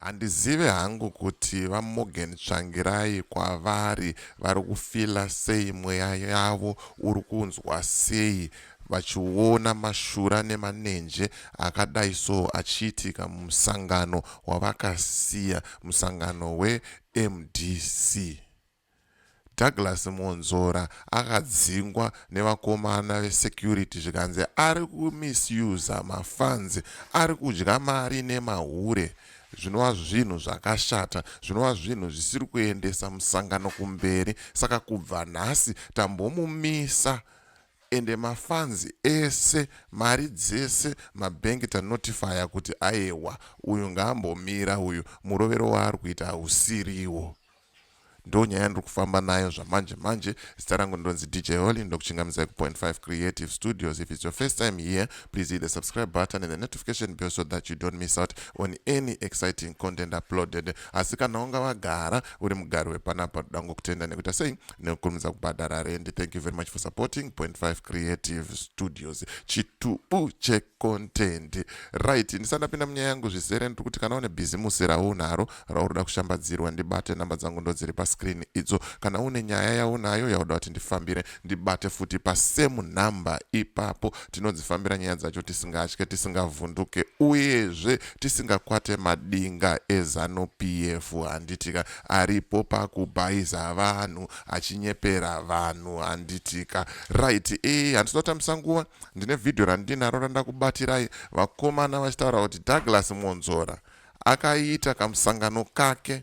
handizive hangu kuti vamorgan tsvangirai kwavari vari kufila sei mweya yavo uri kunzwa sei vachiona mashura nemanenje akadai so achiitika mumusangano wavakasiya musangano wemdc Douglas Mwonzora akadzingwa nevakomana vesecurity zvikanzi ari kumisuser mafans, ari kudya mari nemahure zvinova zvinhu zvakashata, zvinova zvinhu zvisiri kuendesa musangano kumberi saka kubva nhasi tambomumisa ende mafans ese mari dzese mabhengi tanotifaya kuti ayewa uyu ngaambomira uyu murovero waari kuita hausiriwo. ndonyaya yandiri kufamba nayo zvamanje manje zita rangu ndinonzi dj holy ndokuchingamidzai kupoint 5 creative studios if its your first time here please hit the subscribe button and the notification bell so that you don't miss out on any exciting content uploaded asi kana wanga wagara uri mugari wepanapa toda ngokutenda nekuita sei nekukurumidza kubhadhara rendi thank you very much for supporting point 5 creative studios chitubu chek content right ndisati ndapinda munyaya yangu zvizere ndiri kuti kana une bhizimusi raunaro raunoda kushambadzirwa ndibate namba dzangu ndodziri pascreen idzo kana une nyaya yaunayo yauda kuti ndifambire ndibate futi pasame number ipapo tinodzifambira nyaya dzacho tisingatye tisingavhunduke uyezve tisingakwate madinga ezanu pf handitika aripo pakubhaiza vanhu achinyepera vanhu handitika right e eh, handisatotambisa nguva Ndine video randinaro randakubatirai vakomana vachitaura kuti Douglas Mwonzora akaita kamusangano kake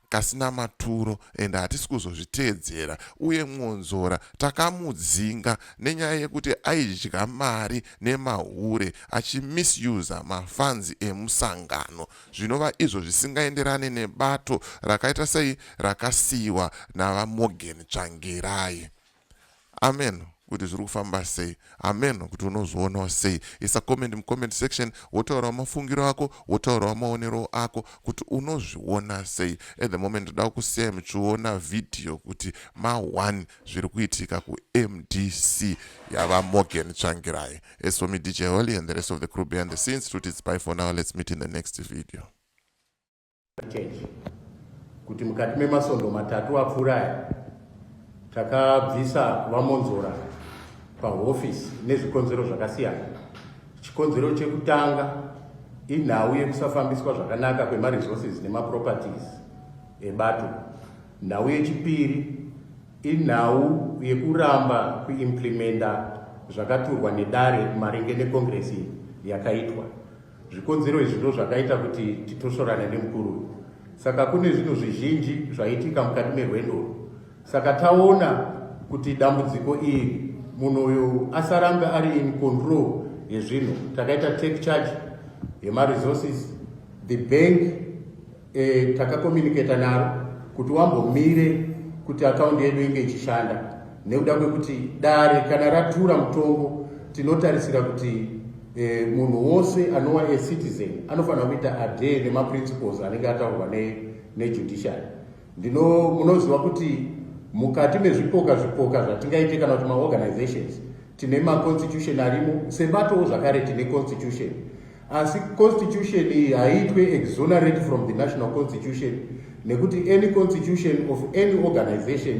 kasina maturo and hatisi kuzozviteedzera uye mwonzora takamudzinga nenyaya yekuti aidya mari nemahure achimisusa mafanzi emusangano zvinova izvo zvisingaenderane nebato rakaita sei rakasiyiwa navamorgan tsvangirai amen kuti zviri kufamba sei amen kuti unozvionawo sei isa comment mucomment section wotaurawo mafungiro ako wotaurawo maonerowo ako kuti unozviona sei at the moment ndoda kusiyai muchiona vhidhiyo kuti ma1 zviri kuitika kumdc yava morgan tsvangirai as for me dj holy and the rest of the crew behind the scenes tuti dzipai for now let's meet in the next video change kuti mukati memasondo matatu apfuura aya takabvisa vamonzora pahofisi nezvikonzero zvakasiyana chikonzero chekutanga inhau yekusafambiswa zvakanaka kwemaresources nemaproperties ebato nhau yechipiri inhau yekuramba kuimplimenta zvakaturwa nedare maringe nekongiresi yakaitwa Zvikonzero izvi ndozvakaita kuti titosvorane nemukuru uyu. Saka kune zvinhu zvizhinji zvaitika mukati merwendo urwu. Saka taona kuti dambudziko iri munhu uyu asarambe ari in control yezvinhu, takaita take charge yemaresources, the bank E, takakomuniketa naro kuti wambomire kuti akaundi yedu inge ichishanda nekuda kwekuti dare kana ratura mutongo tinotarisira kuti e, munhu wose anova a citizen anofanira kuita adhe nemaprinciples anenge ataurwa nejudiciary ne ndino munoziva kuti mukati mezvipoka zvipoka zvatingaite kana kuti maorganizations tine maconstitution arimo sebatowo zvakare tine constitution asi constitution iyi haiitwe exonerate from the national constitution nekuti any constitution of any organization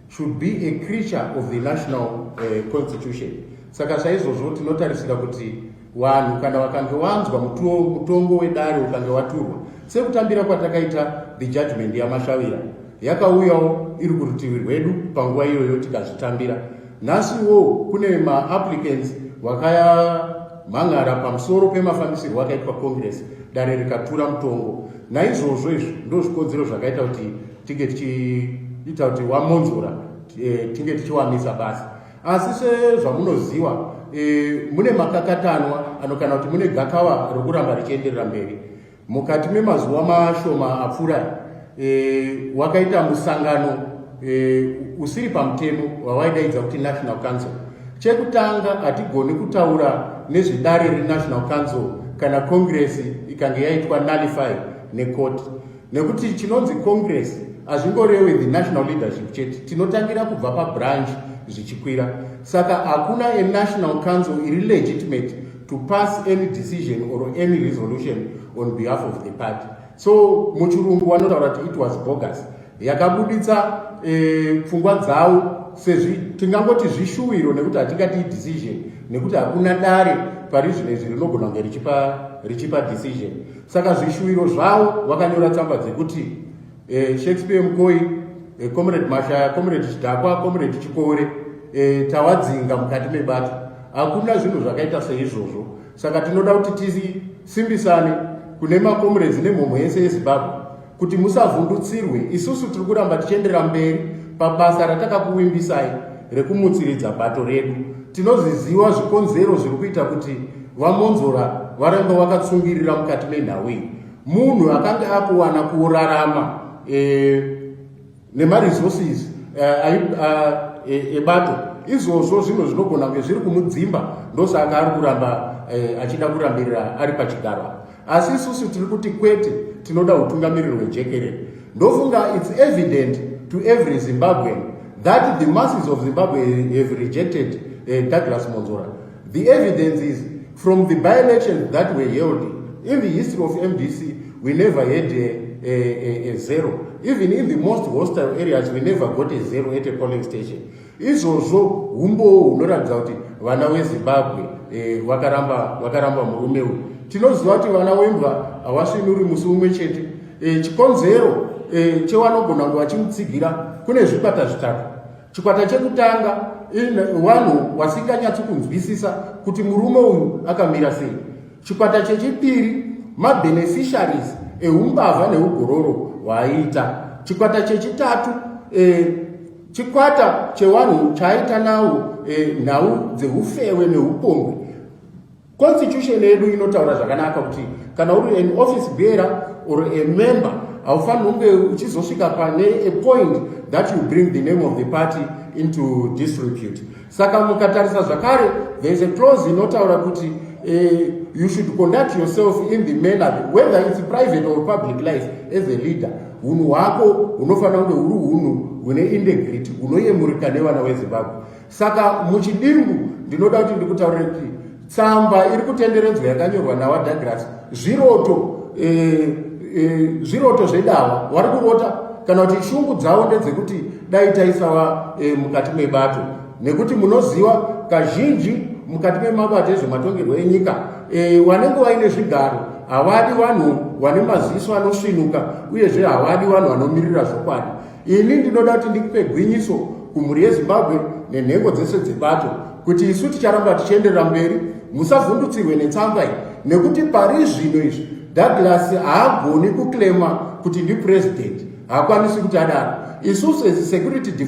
should be a creature of the national uh, constitution saka saizvozvo tinotarisira kuti vanhu kana vakange wanzwa mutongo wedare ukange waturwa sekutambira kwatakaita the judgment yamashavira yakauyawo iri kurutivi rwedu panguva iyoyo tikazvitambira nhasi iwowo kune maapplicants vakayamhan'ara pamusoro pemafambisirwo akaitwa congress dare rikatura mutongo naizvozvo izvi ndo zvikonzero zvakaita kuti tinge tichiita kuti wamonzora eh, tinge tichiwamisa basa asi sezvamunoziva eh, mune makakatanwa anokana kuti mune gakava rokuramba richienderera mberi Mukati memazuva mashoma apfuura e, wakaita musangano e, usiri pamutemo wawaidaidza kuti National Council. Chekutanga hatigoni kutaura nezvedare reNational Council kana Congress ikange yaitwa nullify nekoti nekuti chinonzi Congress hazvingorewe the national leadership chete tinotangira kubva pabranch zvichikwira saka hakuna enational council iri legitimate to pass any decision or any resolution on behalf of the party so muchirungu wanotaura kuti it was bogus yakabuditsa eh, pfungwa eh, dzavo sezvi tingangoti zvishuwiro nekuti hatingati idecision nekuti hakuna dare pari zvino izvi rinogona kunge richipa richipa decision saka zvishuwiro zvavo vakanyora tsamba dzekuti eh, shakespeare mukoi eh, comrade mashaya comrade chidhakwa comrade chikore eh, tawadzinga mukati mebato hakuna zvinhu zvakaita seizvozvo saka tinoda kuti tisimbisane kune macomrades nemhomho yese yezimbabwe kuti musavhundutsirwe isusu tiri kuramba tichienderera mberi pabasa ratakakuvimbisai rekumutsiridza bato redu tinoziziva zvikonzero zviri kuita kuti vamonzora varambe vakatsungirira mukati menhau iyi munhu akange akuwana kurarama e, nemaresources eh, eh, ebato e, e, izvozvo zvinhu zvinogona kunge zviri kumudzimba ndosaka ari kuramba e, achida kurambirira ari pachigaro asi isusu tiri kuti kwete tinoda utungamiriri hwejekerere ndofunga its evident to every zimbabwean that the masses of zimbabwe have rejected uh, douglas monzora The evidence is from the by-elections that were held in the history of MDC, we never had a, a, a, a zero. Even in the most hostile areas, we never got a zero at a polling station. Izvozvo humbowo hunoratidza kuti vana wezimbabwe eh, vakaramba vakaramba murume uyu tinoziva kuti vana wembwa havasvinuri musi umwe chete eh, chikonzero eh, chewanogona kunge vachimutsigira kune zvikwata zvitatu Chikwata chekutanga vanhu vasinganyatsi kunzwisisa kuti murume uyu akamira sei. Chikwata chechipiri mabeneficiaries eumbavha neugororo hwaaiita. Chikwata chechitatu eh, chikwata chevanhu chaaita nawo eh, nhau dzeufewe neupombwe Constitution yedu inotaura zvakanaka kuti kana uri an office bearer or a member haufaniri kunge uchizosvika pane a point that you bring the name of the party into disrepute. Saka mukatarisa zvakare there is a clause inotaura kuti eh, you should conduct yourself in the manner whether it's private or public life as a leader hunhu hwako hunofanira kunge huri hunhu hune integrity hunoyemurika nevana wezimbabwe Saka muchidimbu ndinoda kuti ndikutaurire kuti tsamba iri kutenderedzwa yakanyorwa nawa Douglas zviroto eh, eh, zviroto zvedawa wari kurota kana kuti shungu dzavo ndedzekuti dai taisava eh, mukati mebato nekuti munoziva kazhinji mukati memabato ezvematongerwo enyika eh, wanenge waine zvigaro havadi vanhu vane maziso anosvinuka uyezve havadi vanhu vanomirira zvokwadi Ini ndinoda kuti ndikupe gwinyiso kumhuri yeZimbabwe nenhengo dzese dzebato kuti isu ticharamba tichienderera mberi, musavhundutsirwe netsamba iyi nekuti pari zvino izvi Douglas haagoni kuklema kuti ndipresident, haakwanisi kuti adaro. Isu sesecurity de,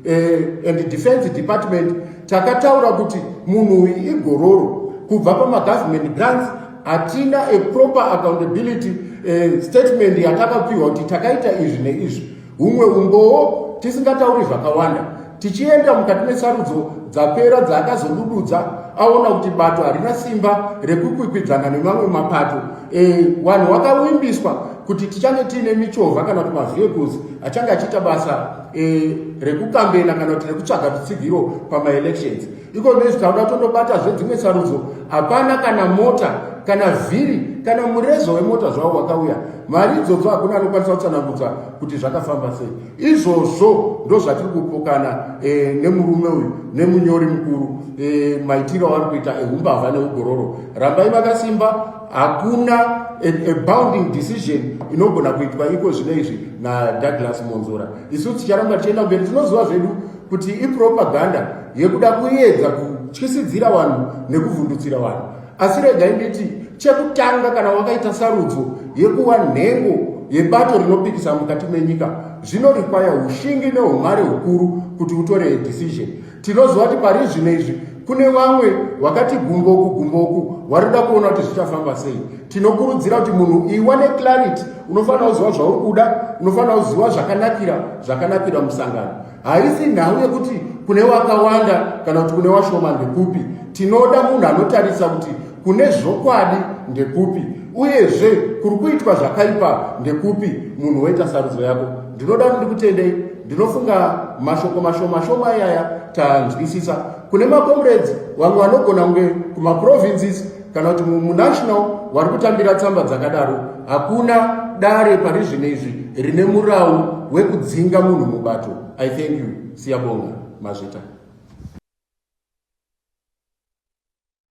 eh, and defense department takataura kuti munhu uyu igororo kubva pamagovernment grants hatina a proper accountability uh, statement yatakapiwa kuti takaita izvi neizvi humwe umbowo tisingatauri zvakawanda tichienda mukati mesarudzo dzapera dzaakazodududza aona kuti bato harina simba rekukwikwidzana nemamwe mapato e, wanhu wakawimbiswa kuti tichange tiine michovha kana kuti mavehicles achange achiita basa e, rekukambena kana kuti rekutsvaga rutsigiro pamaelections iko nezvi tauda tondobata zvedzimwe sarudzo hapana kana mota kana vhiri kana mureza wemota zvavo wakauya mari idzodzo hakuna anokwanisa kutsanangudza kuti zvakafamba sei izvozvo ndozvatiri kupokana e, nemurume uyu nemunyori mukuru e, maitiro avari kuita ehumbavha neugororo rambai vakasimba hakuna a, a bounding decision inogona kuitwa iko zvino izvi nadouglas monzora isu ticharamba tichienda mberi tinoziva zvedu kuti ipropaganda yekuda kuedza kutyisidzira vanhu nekuvhundutsira vanhu asi regai nditi chekutanga kana wakaita sarudzo yekuva nhengo yebato rinopikisa mukati menyika zvinorikwaya ushingi neumwari hukuru kuti utore decision tinoziva kuti pari zvino izvi kune vamwe vakati gumboku gumboku vari kuda kuona kuti zvichafamba sei tinokurudzira kuti munhu iwane clarity unofanira kuziva zvauri kuda unofanira kuziva zvakanakira zvakanakira musangano haisi nhau yekuti kune wakawanda kana kuti kune washoma ndekupi tinoda munhu anotarisa kuti kune zvokwadi ndekupi uyezve kuri kuitwa zvakaipa ndekupi munhu woita sarudzo yako ndinoda kuti ndikutendei ndinofunga mashoko mashomashoma iyaya tanzwisisa kune makomrades vamwe vanogona kunge kumaprovinces kana kuti munational wari kutambira tsamba dzakadaro hakuna dare pari zvino izvi rine murawu wekudzinga munhu mubato i thank you siyabonga mazvita